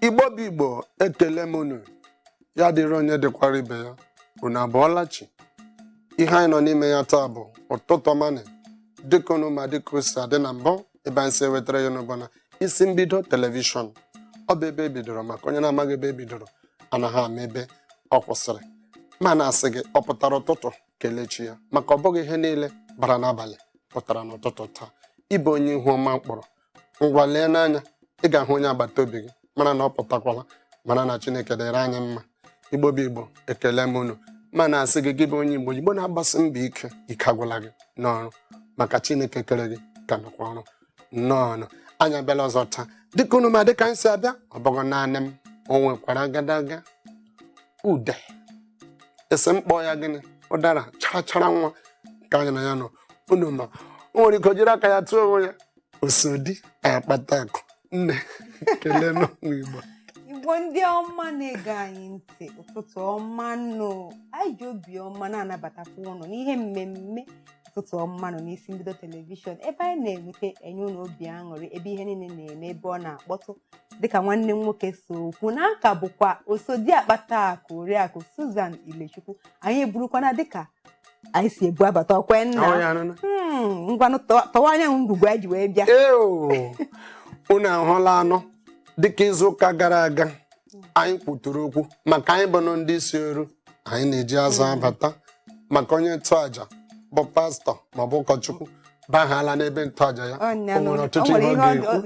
igbo bụ igbo ekele m unu ya dịrị onye dịkwara ibe ya unu abọọla chi ihe anyị nọ n'ime ya taa bụ ụtụtụ ọma nụ dịka unu ma dịka o si adị na mbụ ebe anyị si ewetara ya unu bụ na isi mbido telivishọn ọ bụ ebe ebidoro maka onye na-amaghị ebe ebidoro anaghị ama ebe ọ kwụsịrị ma na-asị gị ọ pụtara ụtụtụ kelee chi ya maka ọ bụghị ihe niile bara n'abalị pụtara n'ụtụtụ taa ị bụ onye ihu ọma kpọrọ ngwa leenụ anya ị ga-ahụ onye agbata obi gị mara na ọ pụtakwala mara na chineke dịrị anyị mma igbo bụ igbo ekele m unu ma na-asị gị gị bụ onye igbo igbo na-agbasi mbọ ike ike agwụla gị n'ọrụ maka chineke kere gị ka nọkwa ọrụ nnọọ anyị abịala ọzọ taa dịka unu ma dịka anyị si abịa ọ bụghị naanị m o nwekwara agadaga ude asị m kpọọ ya gịnị ụdara chara chara nwa ka anyị na ya nọ unu ma o nwere ike jiri aka ya tụọ onwe ya osodi akpata akụ nne kelee ndị igbo igbo ndị ọma na-ege anyị ntị ụtụtụ ọma nụ anyị ji obi ọma na-anabatakwa ụnụ n'ihe mmemme ụtụtụ ọma nụ n'isi mbido telivishọn ebe anyị na-eweta enye unu obi aṅụrị ebe ihe niile na-eme ebe ọ na-akpọtụ dịka nwanne m nwoke si kwuo na ọ ka bụkwa osodi akpata akụ oriakụ Susan Ilechukwu anyị eburukwana dịka anyị si ebu abata ọkwa ya nna Ahụ ya anụna. Hmm, ngwanụ tọwa- tọwa anyị nụ ngwugwu anyị ji wee bịa Eo, unu ahụlanụ dịka izu ụka gara aga anyị kwutụrụ okwu maka anyị bụ nụ ndị isi ọrụ anyị na-eji azụ abata maka onye nchụaja bụ pastọ maọbụ ụkọchukwu bahala n'ebe nchụaja ya o nwere ọtụtụ ihe ọ ga-ekwu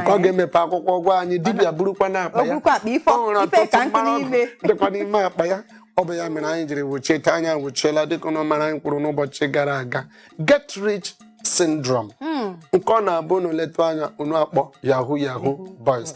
nke ọ ga-emepe akwụkwọ gwa anyị dibịa burukwanụ akpa ya o nwere ọtụtụ mmanụ dịkwa n'ime akpa ya ọ bụ ya mere anyị jiri wụchie taa anyị awụchiela dịka ụnụ mara anyị kwuru n'ụbọchị gara aga get rich syndrome hmm. nke ọ na-abụ unu letụ anya unu akpọ yahoo yahoo boys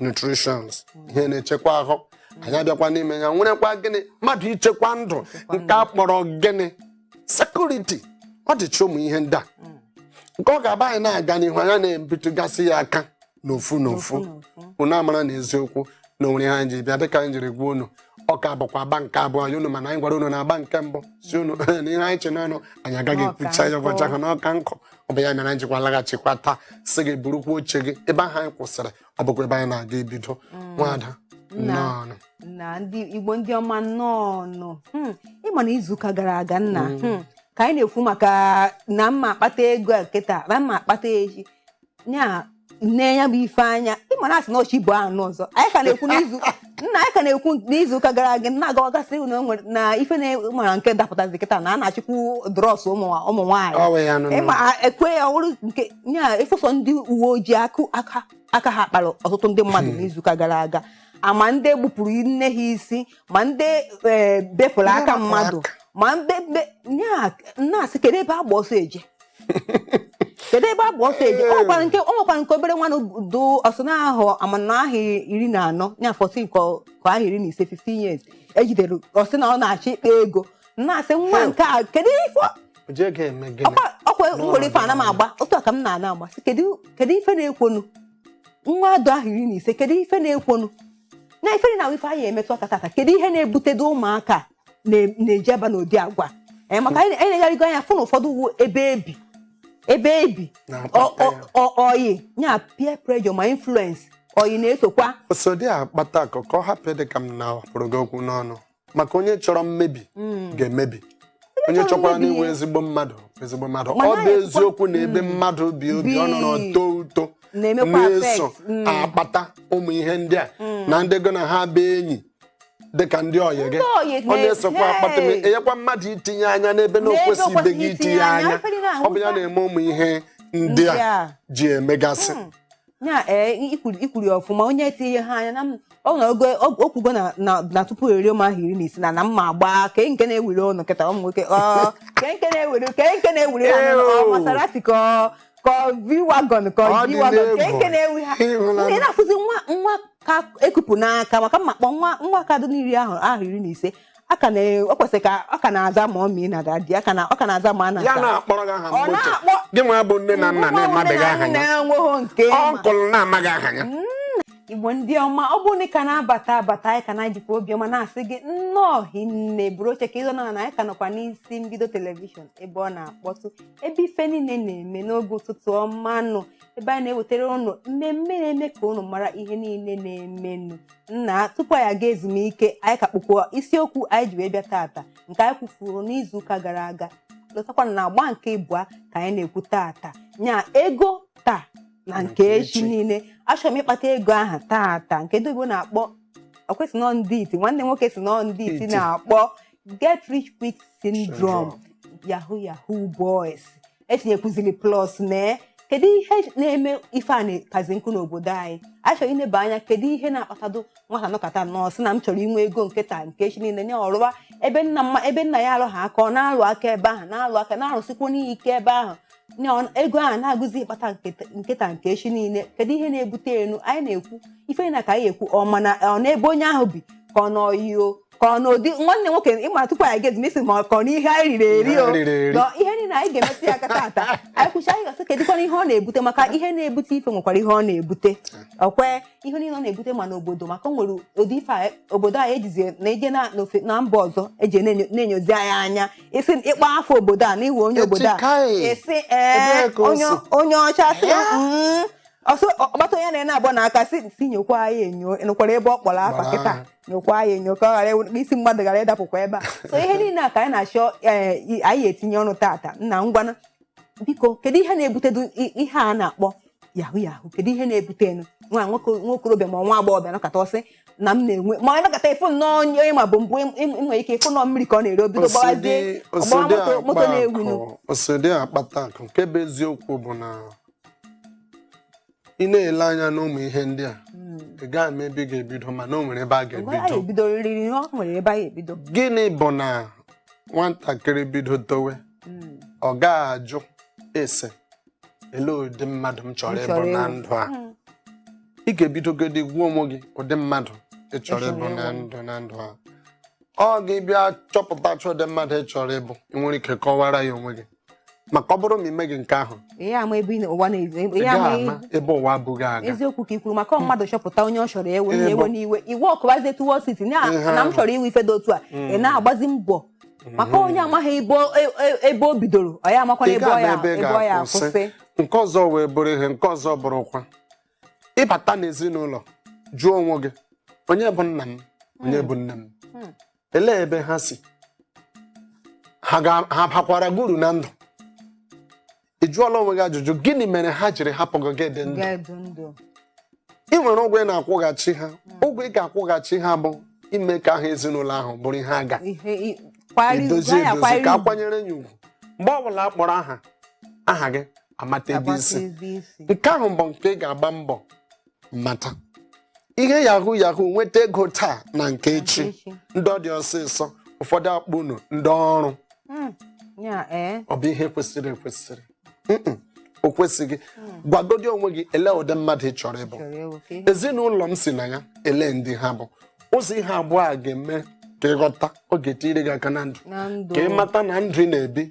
nutritions ihe na-echekwa ahụ anyị abịakwa n'ime ya nwerekwa gịnị mmadụ ichekwa ndụ nke a kpọrọ gịnị security ọ dịcha ụmụ ihe ndị a nke ọ ga-abụ anyị na-aga n'ihu anyị ana-ebitụgasị ya aka n'ofu n'ofu unu amara na eziokwu na o nwere ihe anyị ji bịa dịka anyị jiri gwa unu ọ ka bụkwa agba nke abụọ ya unu ma na anyị gwara unu na agba nke mbụ sị unu na ihe anyị che n'ọnụ anyị agaghị ekwucha ya ụbọchị ahụ n'ọka nkụ ọ bụ ya mere anyị jikwa laghachikwa taa sị gị burukwa oche gị ebe ahụ anyị kwụsịrị ọ bụkwa ebe anyị na-aga ebido nwada Nna. nnọọnụ ndị igbo ndị ọma nnọọ nụ Hmm, ị ma na izuụka gara aga nna hmm, ka anyị na-ekwu maka na m ma akpata ego a kịta na m ma akpata echi ya nne ya bụ ife anya ịma na asị na nchi bụ anụ ọzọ anyị ka na-ekwu n'izu nna anyị ka na-ekwu n'izu ụka gara aga na agawagasị na o nwere na ife na-mara nke dapụtazi kịta na a na-achịkwu drọs ụmụ ụmụ nwaanyị Ọ wee ya nụ nụ. ịma ekwe ya ọrụ nke ya ịfụsọ ndị uwe ojii akụ aka aka ha kpara ọtụtụ ndị mmadụ n'izuụka gara aga ma ndị gbupụrụ nne ha isi ma ndị eh, bepụrụ aka mmadụ ma ndị be- ya na-asị kedu ebe agba ọsọ eje kedu ebe agba ọsọ eje o nwekwara nke o nwekwara nke obere nwa nụ dị ọsọ na ahọ a ma na ahọ iri na anọ ya 14 ọ- ka ahọ iri na ise 15 years e jidere ọ sị na ọ na-achọ ịkpa ego na-asị nwa nke a kedu ife o ji ego eme gịnị ọkwa ọkwa N'ụlọ nwere ife ana m agba otu a ka m na-ana agba sị kedu kedu ife na-ekwonu nwa dị ahọ iri na ise kedu ife na-ekwonu na ife na ife anyị emetụ aka tata kedu ihe na-ebutedo ụmụaka a? na- na-eji aba n'ụdị agwa Eh, maka anyị anyị enegharịgo anya fụ na ụfọdụ wu ebe ebi ebe ebi ọ- na-akpata ọ- ya ọ- ọyị ya peer pressure ma influence ọyị na-esokwa so dị akpata ka ka ọ hapụ ịdị ka m napụrụ gị okwu n'ọnụ maka onye chọrọ mmebi Mm. ga-emebi onye chọrọ chọkwara mmebi n'inwe ya. ezigbo mmadụ ezigbo mmadụ Ma ọ naghị bụ ekwe- eziokwu na ebe Mm. mmadụ bi obi ọ nọrọ Bi. too uto na-emekwa na-eso affect. Mm. akpata ụmụ ihe ndị a Mm. na ndị gị na ha bụ enyi dịka ndị ọyị gị Ndị ọyị ọ na-esokwa na-ehe. akpata m enyekwa mmadụ itinye anya n'ebe na o N'ebe o kwesịbeghị kwesịghị itinye itinye anya, anya efere na-ahụ ọ bụ ya ụta. na-eme ụmụ ihe ndị Ndị a a. ji emegasị ya ee ikwuru ikwuru ya ọfụma onye tinye ha anya na m- ọ na ogo o kwugo na na na tupu eruo m ahọ iri na ise na na m ma-agba kee nke na-ewuru ụnụ kịta ụmụ nwoke ọ kee nke na-ewere kee nke na-ewere ya Ew. n'ọnụ, ọ Maserati ka ọ ka ọ V-Wagon ka ọ Ọ G-Wagon ka n'egwu. kee na-ewu ha Ịhụla ị na-afụzi nwa nwa ka e kupụ n'aka maka m ma-akpọ nwa nwa ka dị n'iri ahọ ahọ iri na ise aka na ọ kwesịrị ka ọ ka na-aza mummy na daddy aka na ọ ka na-aza mana ya na-akpọrọ gị aha Ọ ụgbọ gị na-akpọ- gị nwa bụ nne na nna na-amabeghị aha ya na-enweghị nke ma. uncle na-amaghị aha ya igbo ndị ọma ọ bụrụ na ị ka na-abata abata anyị ka na-ejikwa obiọma na-asị gị nnọọ hinne buru oche ka ị nọ ana anyị ka nọkwa n'isi mbido telivishọn ebe ọ na-akpọtụ ebe ife niile na-eme n'oge ụtụtụ ọma nụ ebe anyị na-ewetara ụnụ mmemme na-eme ka ụnụ mara ihe niile na-emenụ nna tupu anyị aga ezumike anyị ka kpụkwa isiokwu anyị ji wee bịa tata nke anyị kwufuru n'izu ụka gara aga lotakwa na agba nke ịbụa ka anyị na-ekwu tata nya ego taa na nke echi niile achọrọ m ịkpata ego aha tata nke ndị Igbo na-akpọ ọkwa e sị na ọ ndị iti nwanne nwoke sị na ọ ndị iti Iti. na-akpọ get rich quick syndrome yahoo yahoo boys etinyekwuziri plus mee kedu ihe na-eme ife a na-ekazi nkụ n'obodo anyị a chọrọ ineba anya kedu ihe na-akpatadu nwata nọkata nọọ sị na m chọrọ inwe ego nke taa nke echi niile nye ọrụwa ebe nna mma ebe nna ya alụghị aka ọ na-alụ aka ebe ahụ na-alụ aka na-arụsikwanụ ike ebe ahụ nye ọ- ego ahụ na-agụzi ịkpata nke taa- nke taa nke echi niile kedu ihe na-ebutenu anyị na-ekwu ife na ka anyị ekwuo mana ọ n'ebe onye ahụ bi ka ọ n'ọyị o ka ọ n'ụdị nwanne nwoke ị ma tupu anyị gezi mesi ma ka ọ n'ihe anyị riri eri o ihe niile anyị ga-emetụ ya aka tata anyị kwuchaa anyị ga-asị kedụkwanụ ihe ọ na-ebute maka ihe na-ebute ife nwekwara ihe ọ na-ebute ọ kwa ihe niile ọ na-ebute ma n'obodo maka o nwere ụdị ife obodo anyị ejizi na eje na mba ọzọ eji na-enyozi anyị anya ị sị ị kpọọ afa obodo a na ị wụ onye obodo a a sị ee onye ọcha sị mm, ọsọ ọkpata onye na-ene abụọ na aka sị nyokwa ya enyo nụkwara ebe ọ kpọrọ afa kịta nyokwa ya enyo ka ọ ghara ịwụ- ka isi mmadụ ghara ịdapụkwa ebe a so ihe niile a ka anyị na-achọ ee, i- anyị etinye ọnụ tata nna ngwana biko kedu ihe na-ebutedu i- ihe a na-akpọ yahoo yahoo kedu ihe na-ebutenu nwa nwoke nwa okorobịa ma nwa agbọghọbịa nọkata ọ sị na m na-enwe ma ọ nọkata ị fụ nnọọ onye onye ị mabu mbụ ị- ị- ị nwere ike ịfụ nnọọ mmiri ka ọ na-ere o bido gbawazie ọ gbawa moto moto na-ewinu osodi akpata akụ nke bụ eziokwu bụ na ị na-ele anya n'ụmụ ihe ndị a hmm. ị gaghị ama ebe ị ga-ebido mana o nwere ebe a ga-ebido gịnị bụ na nwatakịrị bido towe hmm. ọ gaghị ajụ ese elee ụdị mmadụ m chọrọ ịbụ na ndụ a hmm. ị ga-ebidogodi gwa onwe gị ụdị mmadụ ị chọrọ ịbụ na ndụ na ndụ a ọ gị bịa chọpụtachaa ụdị mmadụ ị chọrọ ịbụ ị nwere ike kọwara ya onwe gị maka ọ bụrụ na ị meghị nke ahụ ihe ama ebe ị na- ụwa na-ezu ị ihe ama gaghị ama ebe ụwa bu gị aga eziokwu ka i kwuru maka ọ mmadụ chọpụta onye ọ chọrọ ịwụ Ihe ewe bụ- n'iwe iwe ọ kụbazie etu wọl siti na Ihe na m ahụ. chọrọ ịwụ ife dị otu a ị na-agbazi mbọ maka onye amaghị ebe o- e- e- ebe o bidoro ọ ya amakwana Ị ebe ọ ga-ama ya ebe ị ebe ọ ya ga-akwụsị. akwụsị nke ọzọ wee bụrụ ihe nke ọzọ bụrụkwa ịbata n'ezinụlọ jụọ onwe gị onye bụ nna m onye bụ nne m Hmm. elee ebe ha si ha ga- ha bakwara gị uru na ndụ ị jụọla onwe gị ajụjụ gịnị mere ha jiri hapụ gị gị dị ndụ ị nwere ụgwọ ị na-akwụghachi ha ụgwọ ị ga-akwụghachi ha bụ ime ka aha ezinụlọ ahụ bụrụ ihe a ga-edozi ka a kwanyere ya ugwu mgbe ọbụla a kpọrọ aha aha gị a mata ebe i si nke ahụ bụ nke ị ga-agba mbọ mata ihe yahoo yahoo nweta ego taa na nke echi Echi. ndị ọ dị ọsịsọ ụfọdụ akpọ unu ndị ọrụ Mm. Ya, eh. ọ bụ ihe kwesịrị ekwesịrị Mm-mm, o kwesịghị gwagodi onwe gị ele ụdị mmadụ ị chọrọ ịbụ Chọrọ ewu ka ihe. ezinụlọ m si na ya ele ndị ha bụ ụzọ ihe abụọ a ga-eme ka ị ghọta ọ ga-etiri gị aka na ndụ Na ndụ. ka ị mata na ndụ ị na-ebi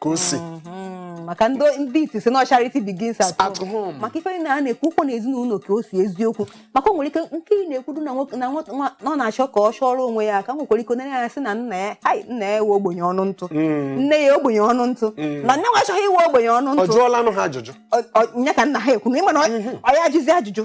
ka o si Mhm. maka ndị ndị iti sị na charity begins at at home home maka ife niile a na-ekwu wụkwa na ezinụlọ ka o si eziokwu maka o nwere ike nke ị na-ekwudu na nwoke- na nwa- nwa- na ọ na-achọ ka ọ chọrọ onwe ya ka nwekwara ike onye ya sị na nna ya hai nna ya wụ ogbenye ọnụ ntụ Mm. nne ya ogbenye ọnụ ntụ na nne nwa achọghị ịwụ ogbenye ọnụ ọ ntụ jụọla onwe ya ajụjụ Ọ- ọ- nya ka nna ha ekwu na ịma na ọ ọ ya ajụzi ajụjụ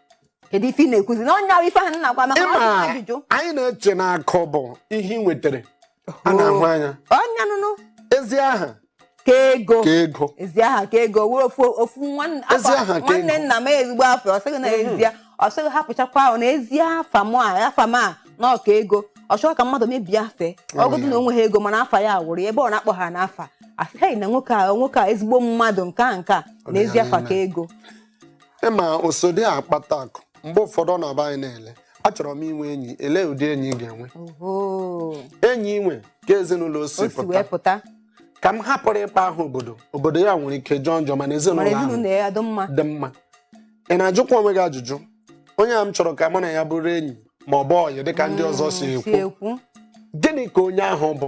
kedu ife ị na-ekwuzi na onye ahụ ife ahụ na-agwa maka na ọ jụrụ ajụjụ ịma anyị na-eche na akụ bụ ihe ị nwetara a na-ahụ anya onye nụnụ ezi aha ka ego ka ego ezi aha ka ego o nwere ofu ofu nwanne Ezi afa- aha ka nwanne ego. nna m ezigbo afọ ọ sị gị na ezi ya ọ sị gị hapụchakwa ahụ na ezi afa m a afa m a na ọ ka ego ọ chọghị ka mmadụ mebie afa Ọ ọ wụdụ ya. na o nwehọ ego mana afa ya wụrụ ya ebe ọ na-akpọ ya n'afa a sị hei na nwoke a nwoke a ezigbo mmadụ nke a nke a na ezi afa ka ego ị ma o sodi akpata akụ mgbe ụfọdụ ọ na-abụ anyị na-ele achọrọ m inwe enyi elee ụdị enyi ị ga-enwe enyi inwe ka ezinụlọ o si pụta ka m hapụrụ ịkpọ aha obodo obodo ya nwere ike jọọ njọ mana ezinụlọ ahụ dị mma ị na-ajụkwa onwe gị ajụjụ onye a m chọrọ ka mụ na ya bụrụ enyi ma ọ bụ ọyị dịka ndị ọzọ si mm, ekwu gịnị ka onye ahụ bụ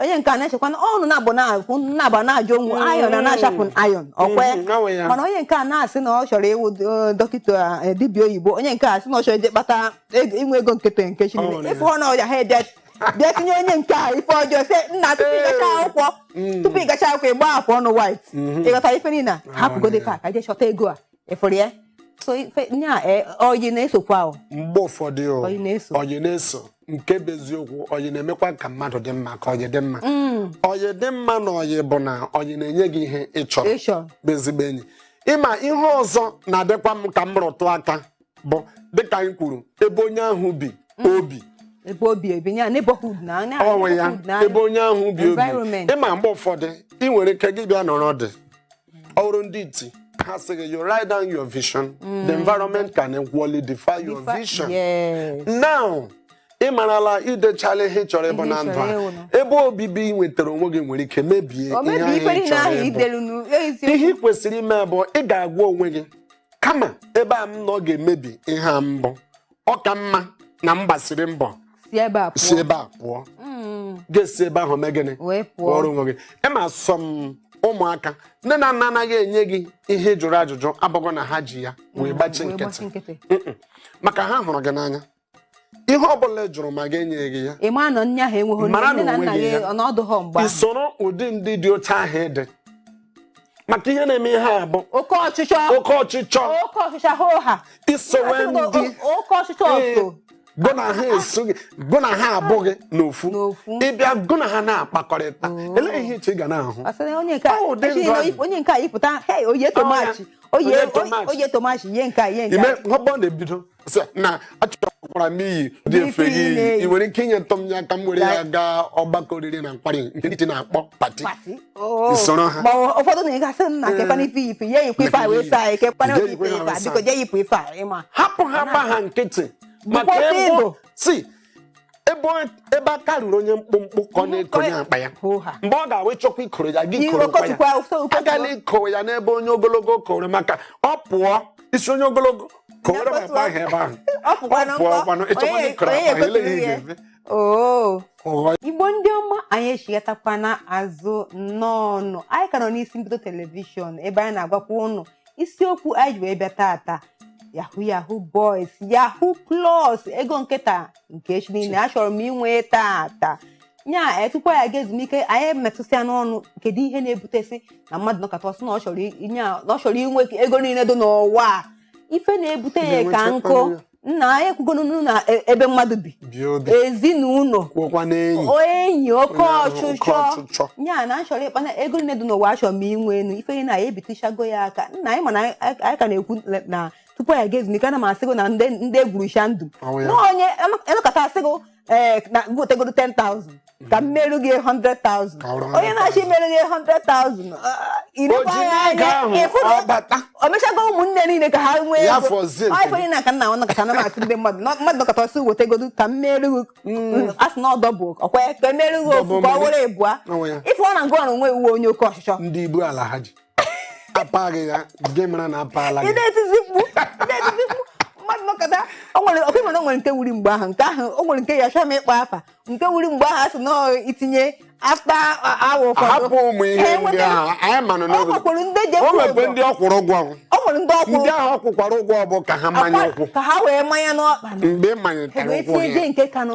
onye nke a na-echekwa na ọnụ na-abụ na-akwụ na-aba na-ajụ onwe ayọn na na-achapụ ayọn ọkwe Mhm, ọnwụ ya. mana onye nke a na-asị na ọ chọrọ ịwụ eh, dọkịta eh, dibịa oyibo onye nke a sị na ọ chọrọ ije kpata ego- inwe ego nkịtị nke Ọ nwere chineke ya. ị fụnụ ọyị ha bịa bịa tinye onye nke a ife ọjọọ sị nna tupu ị gacha akwụkwọ tupu ị gacha akwụkwọ ị gba afọ ọnụ white ị ghọtara ife niile a hapụgodi ka ka je chọta ego a ị fụrụ ya so ife nya e, ọyị na-esokwa o mgbe ụfọdụ o, Ọyị na-eso. ọyị na-eso nke bụ eziokwu ọyị na-emekwa ka mmadụ dị mma ka ọyị dị mma Mm, ọyị dị mma n'ọyị bụ na ọyị na-enye gị ihe ị chọrọ ịchọ bụ ezigbo enyi ị ma ihe ọzọ na-adịkwa m ka m rụtụ aka bụ dịka anyị kwuru ebe onye ahụ bi obi ebe obibi ya neighborhood na na- onwe ya neighborhood na- ebe onye ahụ bi obi Environment. ị ma mgbe ụfọdụ ị nwere ike gị bịa nọrọ dị ọ bụrụ ndị iti ha asị gị you write down your vision the environment can equally defy your Defi- vision Yes. now ị marala i dechala ihe ị chọrọ ịbụ Ihe na ị ndụ chọrọ a ịwụ na. ebe obibi ị nwetara onwe gị nwere ike mebie o ihe mebiri ife ahụ ị niile ahụ chọrọ ịbụ i delu nu ihe eziokwu ị kwesịrị ime bụ ị ga-agwa onwe gị kama ebe a m nọ ga-emebi ihe a m bu ọ ka mma na m gbasiri mbọ si ebe a pụọ Mm, ga-esi ebe ahụ mee gịnị wee pụọ ọrụ onwe gị ịma sọ m ụmụaka nne na nna anaghị enye gị ihe ị jụrụ ajụjụ abụghị na ha ji ya wee gbachi nkịtị Mm-mm. maka ha hụrụ gị n'anya ihe ọ bụla ị jụrụ ma ha enyeghị gị ya ị ma na nne ahụ enweghị Mara na nne na onwe nna gị gị ya. ọ na ọdụghọ mgbe ahụ i soro ụdị ndị dị otu ahụ ịdị maka ihe na-eme ihe a bụ oke ọchịchọ oke ọchịchọ oke ọchịchọ hoo-ha i sowe ndị oke ọchịchọ ọtọ gụ na ha esoghị gụ na ha abụghị n'ofu ị bịa gụ na ha na-akpakọrịta oh. elee ihe i che ị ga na-ahụ onye nke a yipụta oye tomachi oye tomachi ihe nke a ihe nke a. ime ọgbọ na-ebido sị na achọkwara m iyi ụdị efe gị yi ị nwere ike inyetụ m ya ka m were ya gaa ọgbakọ oriri na nkwari nke ndị na-akpọ pati oh. soro ha ụfọdụ na ị ga-asị nna kekwana ife ife ya yipụ ife a wee saa anyị kekwana obi ife ife a biko jee yipụ ife a ịma hapụ ha gba ha nkịtị maka Igbo sị ebe ọ- ebe aka ruru onye mkpụmkpụ ka ọ na-ekonye akpa ya Hoo-ha. mgbe ọ ga-abụ ị chọkwa ikoro ya gị Gị koro nkwa okotukwa, ya okotukwa. agala ikowe ya n'ebe onye ogologo koro maka ọ pụọ ị sị onye ogologo kowere m akpa ahụ ebe ahụ Ọ pụkwa na ọ pụọ nkọ. ngwanụ ị chọkwa Onye- ikoro onye akpa ya elee ekoturu ihe ya. ga-eme Oo. Ụghọ Igbo ndị ọma anyị echighatakwana azụ nnọọnụ anyị ka nọ n'Isi Mbido telivishọn ebe anyị na-agwakwa ụnụ isiokwu anyị ji wee bịa tata yahoo yahoo boys yahoo plus ego nke taa nke echi niile achọrọ m inwe tata nya anyị tupu anyị aga ezumike anyị metụsịa n'ọnụ kedu ihe na-ebutesị na mmadụ nọkata ọ sị na ọ chọrọ i- nya- na ọ chọrọ inwe ego niile dị n'ụwa a. ife na-ebute ya ka Ga-enwecha nkụ ọnụ ya. nna anyị ekwugoro na e, ebe mmadụ bi ezinụlọ enyi oke ọchụchọ ya na achọrọ ịkpa na ego niile dị n'ụwa achọrọ m inwe enu ife na anyị ebitichago ya aka nna anyị mana anyị ka na-ekwu na tupu anyị aga ezumike ana m asịgo na ndị egwurucha ndụ na onye nọkata asị gị ee eh, na wetegodu 10,000 ka m meru gị 100,000 onye na-achọ imeru gị 100,000 o mechago ụmụnne niile ka ha nwee ego onye na-aka nna nwana kacha nama asị ndị mmadụ mmadụ nọkata ọ sị wetegodu ka m meru gị mm. a sị na ọdọ bụ ọkwa ka e meru gị ofu ka ọ were ịbụa ife ọ na ngụ ọrụ nwe uwe onye oke ọchịchọ ndị ibu ala ha ji apa gị ya gị mara na apaala gị na-etizi mkpu na-etizi mkpu mmadụ nọkata o nwere ọkụ mana o nwere nke wuri mgbe ahụ nke ahụ o nwere nke ya achọrọ m ịkpọ afa nke wuri mgbe ahụ a sị na i tinye after awa ụfọdụ hapụ ụmụ ihe ndị ahụ anyị manụ ọ n'oge nwekwuru ndị je o nwekwe ndị ọ kwụrụ ụgwọ ahụ. o nwere ndị ọ kwụ ndị ahụ ọ kwụkwara ụgwọ bụ ka ha manye ụkwụ ka ha wee manye n'ọkpa mgbe ị manyetara wee ụkwụ tinye ya je nke kanụ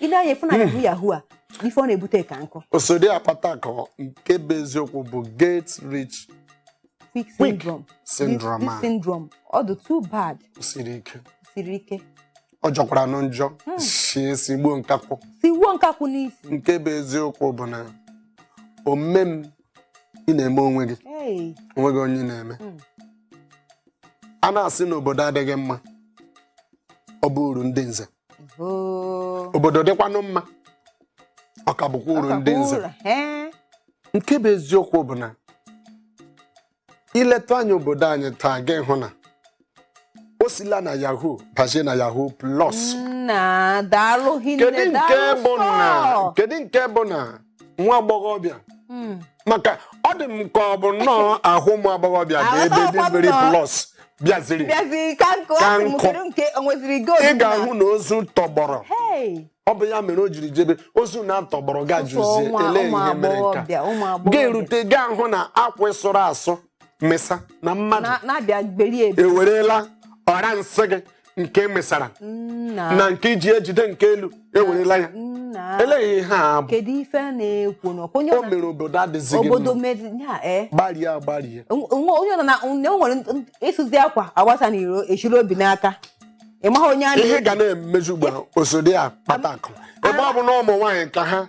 ị lee anya ị fụ na hmm. yahoo yahoo a ife ọ na-ebute ka nkụ osodi akpata akụ nke bụ eziokwu bụ get rich quick syndrome syndrome this syndrome ọ dị too bad siri ike siri ike ọ jọkwara nụ njọ hmm. si esi gbuo nkakwụ sigbuo nkakwụ n'isi nke bụ eziokwu bụ na ome m ị na-eme onwe gị onwe gị onye na-eme hmm. a na-asị na obodo adịghị mma ọ bụ uru ndị nze Hoo. obodo dịkwanụ mma ọ ka bụkwa uru ndị nze Ọ ka bụrụ, ee. nke bụ eziokwu bụ na ileta anya obodo anyị taa gị hụ na o sila na yahoo bazie na yahoo plus nna daalụ hinne kedu nke daalụ bụ na sọ. kedu nke bụ na nwa agbọghọbịa Mm. maka ọ dị m ka ọ bụ nnọọ ahụ ụmụ agbọghọbịa bụ ebe the Aghọtakwa m very nnọọ. plus bịaziri bịazi ka nkụ Ka asị m nkụ. kedu nke o nweziri gold ị ga-ahụ na ozu tọgbọrọ Hey, ọ bụ ya mere o jiri jebe ozu na-atọgbọrọ ga jụzie nwa- ele ụmụ ihe mere nke a agbọghọbịa ụmụ agbọghọbịa ga-erute gaa hụ na akwa sụrụ asụ mesa na mmadụ na- na-abịa gberie ebe ewerela ọra nsị gị nke mesara nna na nke iji ejide nke elu ewerela ya nna elee ihe a bụ kedu ife a na-ekwu na onye o ọ na- mere obodo adịzighị obodo mma meri ya ee gbarie agbarie nwa onye nọ na na o nwere nt- ịsụzi akwa agbasa na iro echiri obi n'aka ị maghị onye a ihe na-eji ga na-emezi ugbu a osodi akpata akụ ebe ọ bụ na ụmụ nwaanyị ka ha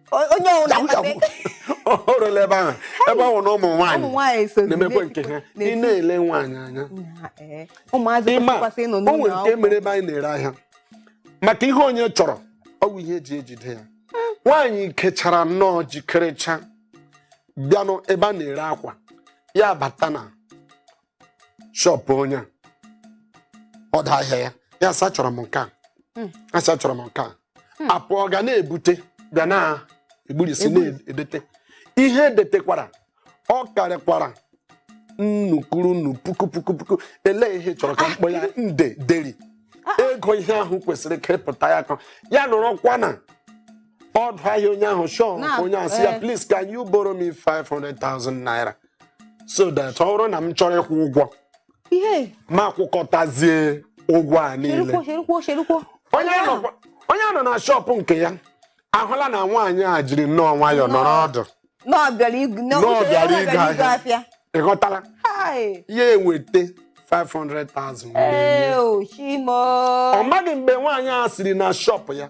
onye o rule ebe ahụ ebe ahụ na ụmụ nwaanyị na-emekwa nke ha ị na-ele nwaanyị anya eh. ị ma o nwere nke mere ebe anyị na-ere ahịa maka ihe onye chọrọ ọ wụ ihe eji ejide ya hmm. nwaanyị kechara nnọọ jikerecha bịanụ ebe a na-ere akwa ya bata na shọpụ onye a ọdụ ahịa ya ya asị achọrọ m nke a Mm. asị achọrọ m nke a Mm. a pụọ ga na-ebute bịa na-egburisi Egburi. na-edete ihe edetekwara ọ karịkwara nnukuru nnu puku puku puku elee ihe ị chọrọ ka Ah, m kpọọ ya nde deri Ah, ah. ego ihe ahụ kwesịrị ka ịpụta ya ka ya nọrọkwa na ọdụ ahịa onye ahụ shọpụ Na- onye ahụ sị ya eh. please can you borrow me 500,000 naira so that ọ bụrụ na m chọrọ ịkwụ ụgwọ ihe m akwụkọtazie ụgwọ a niile cherukwo cherukwo cherukwo onye nọ onye nọ na shọpụ nke ya ahụla na nwaanyị a jiri nnọọ nwayọọ nọrọ ọdụ na ọ bịara igu- na Nọọ ọ bịara bịara igo igo ahịa. afịa ị ghọtala Hai! ya eweta 500,000 wee nye. Ee, o, chi m o ọ maghị mgbe nwaanyị a siri na shọpụ ya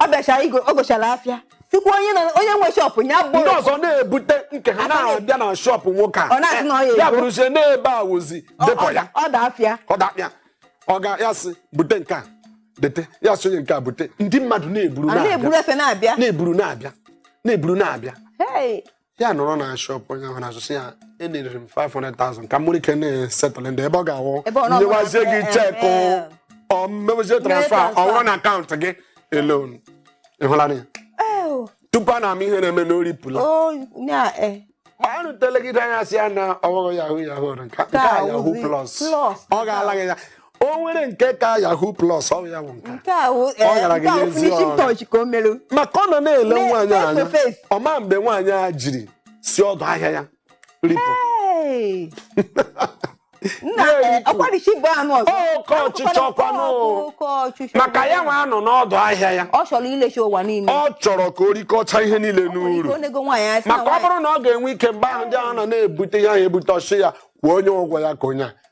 ọ bịachara igo o gochara afịa sịkwa onye nọ onye nwe shọpụ ya bụ ndị ọzọ na-ebute nke ha na-abịa na shọpụ nwoke Ọ na-asị na ọ ya a ya ego. bụrụzie n'ebe a wụzi depọ ya ọda afịa ọ dakpịa ọ ga ya sị bute nke a dete ya sị onye nke a bute ndị mmadụ na-eburu a na-eburu na-abịa efe na-abịa na-eburu na-abịa na-eburu na-abịa Hey, ya nọrọ na shop onye ahụ na-azụ sị ya enyere m 500,000 ka m nwere ike na-esetụlụ ndị ebe ọ ga-awụ Ebe ọ na- nyewazie gị eh, chekụ eh. ọ mewezie transfa ọ transfer. bụrụ na akaụntụ gị alone ị hụla ya Oh, tupu a na-ama ihe na-eme na o ripụla oh, yeah, eh. ma a rụtelegide anya sị ya na ọghọghọ yahoo yahoo nke a- nke a Ka yahoo wụzi plus plus. ọ ga-ala gị ya o nwere nke ka yahoo plus ọ ya bụ nke nke a wụ Ọ gara gị nke a wụ n'ezi finishing ọrụ. touch ka o mere maka ọ nọ na-ele Me- nwaanyị face anya to face. ọ ma mgbe nwaanyị a jiri si ọdụ ahịa ya ripụ Hey! nna Na-eripụ. ọkwarichi bụ anụ ọzọ Oke ọchịchọ ọkwanụ. Oke ọchịchọ maka ya nwa nọ n'ọdụ ahịa ya ọ chọrọ iricha ụwa niile ọ chọrọ ka o rikọcha ihe niile n'uru Ọ na-ego nwaanyị asị na maka ọ nwaanyị- bụrụ na ọ ga-enwe ike mgbe ahụ ndị ahụ nọ na-ebute ihe ahụ ebute ọ sị ya kwụọ onye ụgwọ ya ka onye a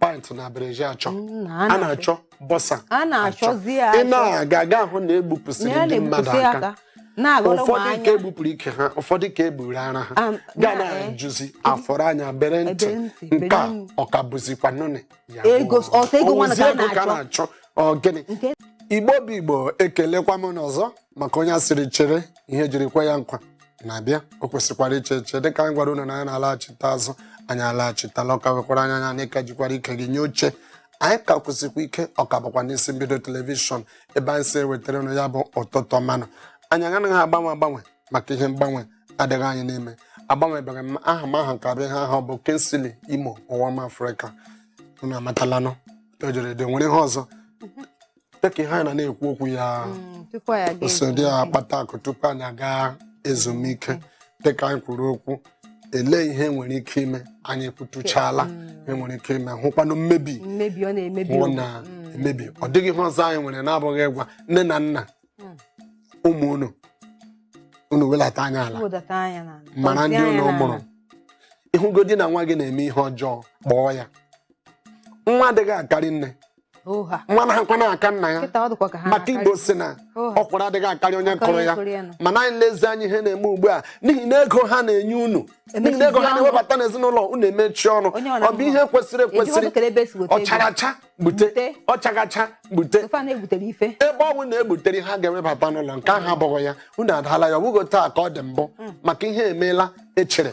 pant na bra e ji achọ a na-achọ boxer a na-achọzi ya ị na-aga ị ga-ahụ na e gbupụsịrị ndị mmadụ aka ụfọdụ ka e gbupụrụ ike ha ụfọdụ ka e gburu ara ha ga na-ajụzi eh, eh, a fọrọ anya bere ntị nke a ọ ka bụzikwa nụnị ya ego ka a na-achọ ọ gịnị Igbo bụ Igbo ekelekwa m unu ọzọ maka onye a sịrị chere ihe e jiri kwe ya nkwa na-abịa o kwesịkwara iche eche dịka anyị gwara unu na anyị na-alaghachite azụ anyị alaghachitala ọ ka wekwara anya anya anyị ka jikwara ike jide oche anyị ka kwụsịkwa ike ọ ka bụkwa n'isi mbido telivishọn ebe anyị si ewetara unu ya bụ ụtụtụ ọma nụ anyị anaghị agbanwe agbanwe maka ihe mgbanwe adịghị anyị n'ime agbanwebeghị m aha m aha m ka bụ ihe ọ bụ Kingsley Imo nwa Afrịka unu amatalanụ o jere dị nwere ihe ọzọ dịka ihe anyị na na-ekwu okwu ya Mm, tupu anyị aga oso di ezumike. akpata akụ tupu anyị aga ezumike dịka anyị kwuru okwu elee ihe nwere ike ime anyị kwutuchala ihe nwere ike ime hụkwanụ mmebi mmebi ọ na-emebi hụ ụwa. na Mm. emebi ọ dịghị ihe ọzọ anyị nwere na-abụghị ịgwa nne na nna Mm. ụmụ unu unu welata anya ala Wedata anya n'ala. mara Tọzie ndị anya unu n'ala. mụrụ ị hụgodi na nwa gị na-eme ihe ọjọọ kpọọ ya nwa adịghị akarị nne nwa anaghịkwanụ aka nna ya maka Igbo sị na ọkwụrụ adịghị akarị onye kụrụ ya mana anyị lezie anya ihe na-eme ugbu a n'ihi na ego ha na-enye unu n'ihi na ego ha na-ewebata n'ezinụlọ unu emechi ọnụ ọ bụ ihe kwesịrị ekwesịrị ọ chara acha gbute ọ chaghị acha gbute ebe ọ bụ na e gbutere ha ga-ewebata n'ụlọ nke ahụ abụghị ya unu adaala ya ọ bụghị otu a ka ọ dị mbụ hmm. maka ihe emeela echere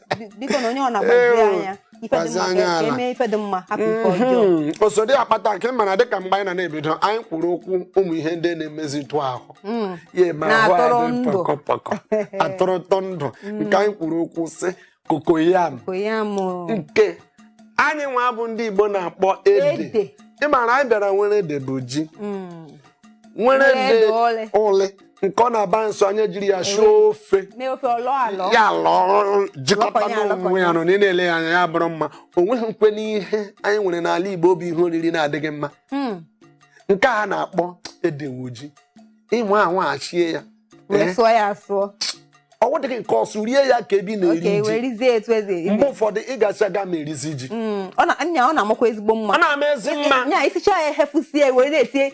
biko na onye ọ na-agbazi anya ife dị mma ka eme ife dị mma hapụ ife mhm. ọjọọ osodi akpata nke mara dịka mgbe anyị na na-ebido anyị kwuru okwu ụmụ ihe ndị na-emezitụ ahụ mm. ya eme ahụ anyị pọkọpọkọ atụrụtọ ndụ mm. nke anyị kwuru okwu sị cocoyam nke anyị nwa bụ ndị Igbo na-akpọ ede ịmara anyị bịara nwere ede bụ ji mm. nwere ede uli nke ọ na-abụ a sụọ ya e jiri ya shie ofe ya lọọ jikọta onwe ya ọnụ na ị na-ele ya anya ya bụrụ mma o nweghịkwanụ ihe anyị nwere n'ala Igbo ọ bụ ihe oriri na-adịghị mma hmm. nke a na-akpọ ede wụ ji i were ahụ shie ya ọ wụdịghị nke ọsụ rie ya ka ebe a na-eri ji mgbe ụfọdụ ị gacha ga ma erizi ji hmm, ọ na-amakwa ezigbo mma ọ na-ama ezi mma nya i sicha ya ehefusie were na-etinye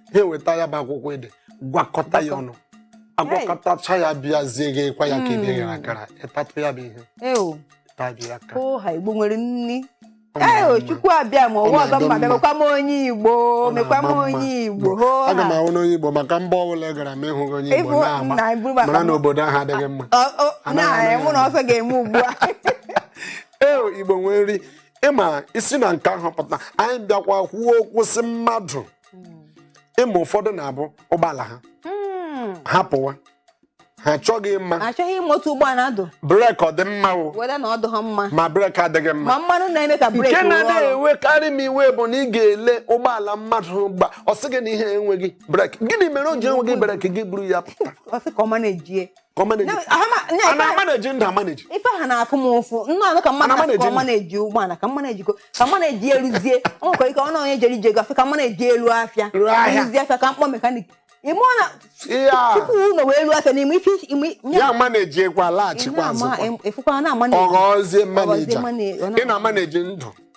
ha eweta ya bụ akwụkwọ ede gwakọta ya ọnụ agwakọtacha ya bịazie ghekwa ya ka ebe hmm. e ghere akara ị tatụ ya bụ ihe oha igbo nwere nri ee chukwu abịa m ụwa ọzọ mma mekwa m onye igbo mekwa m onye igbo aga m awụ onye igbo maka mba ọbụla ị gara ma ị hụghị onye igbo n'ama mara na obodo ahụ adịghị mma na-enwụ na ọsọ ga-eme ugbu a ee igbo nwere nri ịma e si na nke ahụ pụta anyị bịakwa kwuo okwu sị mmadụ ịma ụfọdụ na-ebu ụgbọala ha hmm. ha pụwa ha achọghị ịma achọghị ịma otu ụgbọala dụ breki ọ dị mma o whether na ọ dịghị mma ma breki adịghị mma ma mmanụ na-eme ka breki nke na-adị ewekarị m iwe bụ na ị ga-ele ụgbọala mmadụ gba ọ sị gị na ihe enweghị breki gịnị mere o ji enweghị breki gị buru ya pụta ka ọ maneji a na-amaneji ndụ amaneji ife a na-afụ m ụfụ m na-anụ ka mmadụ na-asị ka ọ maneji ụgbọala ka m maneji ko ka m maneji eruzie ọ nwekwa ike ọ na onye jere ije ego afọ ka m maneji eluo afịa eruzie afịa ka m kpọọ mechanic ime ọ na tupu ụlọ wee ruo afịa n'ime ife ya manejikwa laghachikwa azụ ọ ghọzie manager ị na-amaneji ndụ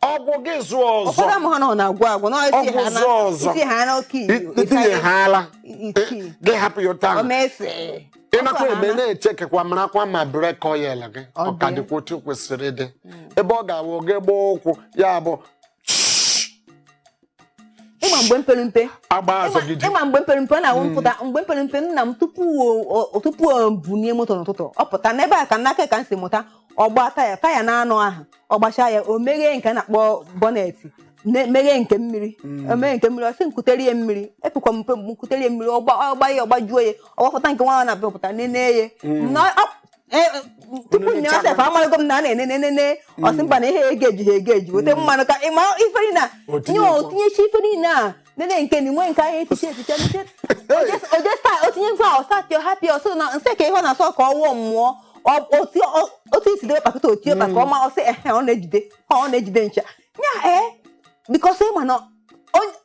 ọ gwụ gị zụọ ọzọ ụfọdụ amaghọ na ọ na-agwụ agwụ na isi Ọ gwụ ha na zụọ ọzọ. ị sị ha na oke iwu itinye ha ala iti gị hapụ ya ụta o mefe ị nakwa eme na-echekekwa marakwa ma brake oil gị Ọ dị. ọ ka dịkwa otu o kwesịrị ịdị ebe ọ ga-awụ gị gbaa ụkwụ ya bụ ịma mgbe m pere mpe agba azọgide ịma mgbe m pere mpe ọ na-awụ m pụta mgbe m pere mpe nna m tupu o- o- tupu o bunie moto n'ụtụtụ ọ pụta n'ebe a ka n'aka ya ka m si mụta ọ gbaa taya taya n'anọ ahụ ọ gbachaa ya o meghee nke a na-akpọ bọnetị ne- meghee nke mmiri o meghee nke mmiri ọ sị m kutere ya mmiri epekwa m mpe m kutere ya mmiri ọ gba ọ gba ya ọ gbajuo ya ọ gbapụta nke nwa ọ na-amịpụta nene ya na ọ- Eh, eh, tupu nne ọsef amarago m na a na-enenene ọ sị mba na ihe a ga-eji ha a ga-eji weta mmanụ ka ị ma ife niile a O nye tinyekwa. o tinyechaa ife niile a nene nke na inwe nke ahụ echiche echiche nche ojesta o tinye nkwa ọsatio hapi ọsọ na nsị ka ihe ọ na-asọ ka ọwụọ mmụọ Ọ- otu ọ- otu i si debe pakịta otie maka ọma ọ sị ehe ọ na-ejide ọ na-ejide ncha nya ee because ị ma na onye-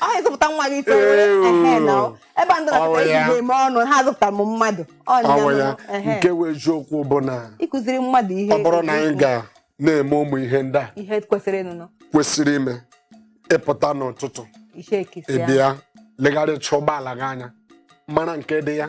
ọ na-ezụpụta nwa gị ife were Ew. ehe na ọ. ebe a ndị Ọ na-akọta ya. ejide eme ọnụ ha azụpụtara m mmadụ Ọ nya ọnwa ya nụ, ehe. nke wụ eziokwu bụ na ịkụziri mmadụ ihe ọ bụrụ na anyị ga na-eme ụmụ ihe ndị a ihe kwesịrị ịnụnụ kwesịrị ime ị pụta n'ụtụtụ ihe e kwesịrị ị ya bịa legharịcha ụgbọala gị anya mara nke dị ya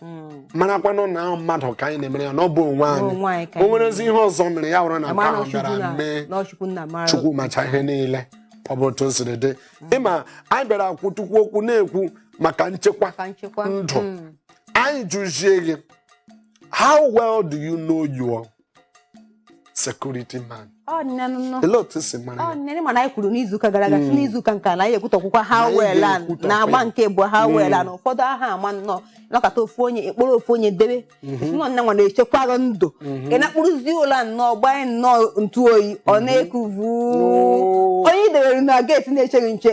hmm. marakwanụ na ahụ mmadụ ka anyị na-emere ya na ọ bụ onwe anyị o nwerezi ihe ọzọ mere ya wụrụ na nke ahụ bịara mee Chukwu macha ihe niile ọ bụ otu o siri dị hmm. ị ma anyị bịara kwutukwu okwu na-ekwu maka nchekwa ndụ hmm. anyị jụzie gị how well do you know your security man olee otu i si mara ya mana anyị kwuru n'izuụka gara aga sị hmm. n'izuụka nke a na anyị ekwutukwukwa ha weela na agba nke bụ ha hmm. weela na ụfọdụ aha ama nnọọ nọkọta ofu onye a kpọrọ ofu onye debe hmm. nọ nne nwa na-echekwarụ ndụ ị na-akpụrụzi ụlọ nnọọ gbanye nnọọ ntụ oyi ọ na-ekuvu onye i dewere na gate na-eche gị nche